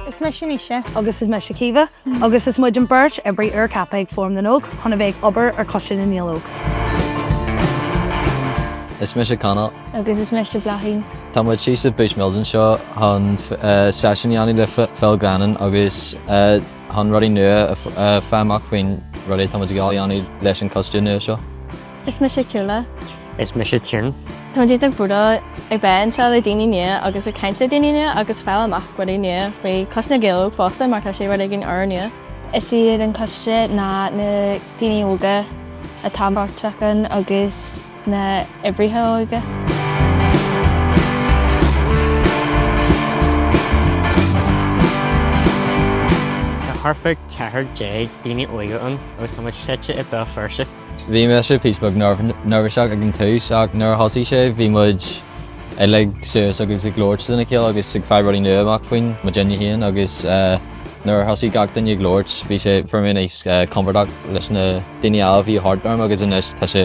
Is mise Naoise. Agus is mise Caoimhe. Agus is muid an bheirt oibrí úr ceaptha ag Fóram na nÓg chun a bheith ag obair ar Choiste na nGael Óg. Is mise Conall. Agus is mise Bláithín. Tá muid thíos i Bushmills anseo chun seisiún a dhéanamh le Phil Glennon agus chun rudaí nua a fháil amach faoin rudaí atá muid ag dul a dhéanamh leis an coiste nua seo. Is mise Ciúla. Is mise Tinn. Táimid ag dul a bheith anseo le daoine nua agus ag caint le daoine nua agus fáil amach rudaí nua faoi Choiste na nGael Óg fosta mar tá sé rud éigin úrnua. Is iad an coiste ná na daoine óga atá páirteach ann agus na hoibrithe óige. Tá thart fá 14 daoine óga ann agus táimid suite i mBéal Feirste. Bhí mise píosa beag neirbhíseach ag an tús ach nuair a thosaigh sé bhí muid uilig suas agus ag labhairt lena chéile agus ag fáil rudaí nua amach faoin muid fhéin féin agus nuair a thosaigh gach duine ag labhairt bhí sé fuair mé níos compordach leis na daoine eile a bhí thart orm agus anois tá sé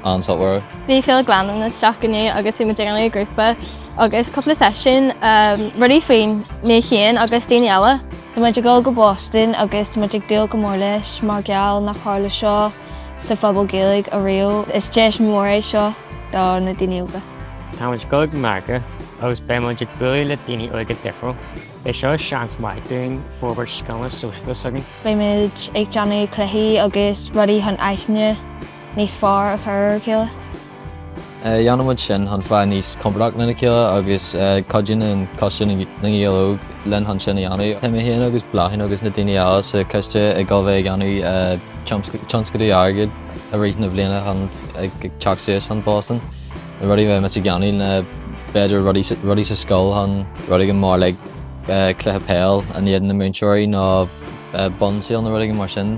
an-suimiúil. Bhí Phil Glennon isteach inniu agus bhí muid ag an ngrúpa agus cúpla seisiún rudaí faoin mé féin agus daoine eile. Tá muid ag dul go Boston agus tá muid ag dúil go mór leis mar gheall nár tharla seo sa Phobal Gaeilge ariamh. Is deis mhór é seo do na daoine óga. Tá muid ag dul go Meiriceá agus beidh muid ag bualadh le daoine óga difriúil. Beidh seo seans maith dúinn forbairt scileanna sóisialta s'againn. Beidh muid ag déanamh cluichí agus rudaí chun aithne níos fearr a chur ar a chéile. Déanaimid sin chun fáil níos compordaí lena chéile agus cuidíonn an Coiste na nGael Óg linn chun sin a dhéanamh. Tá mé féin agus Bláithín agus na daoine eile sa choiste ag dul a bheith ag dhéanamh tionscadail airgid i rith na bliana ag teacht suas chun Boston na rudaí a bheidh muid ag déanamh ná b'fhéidir rudaí sa scoil chun rud éigin mar like cluiche peil in éadan na múinteoirí nó bun sale nó rud éigin mar sin.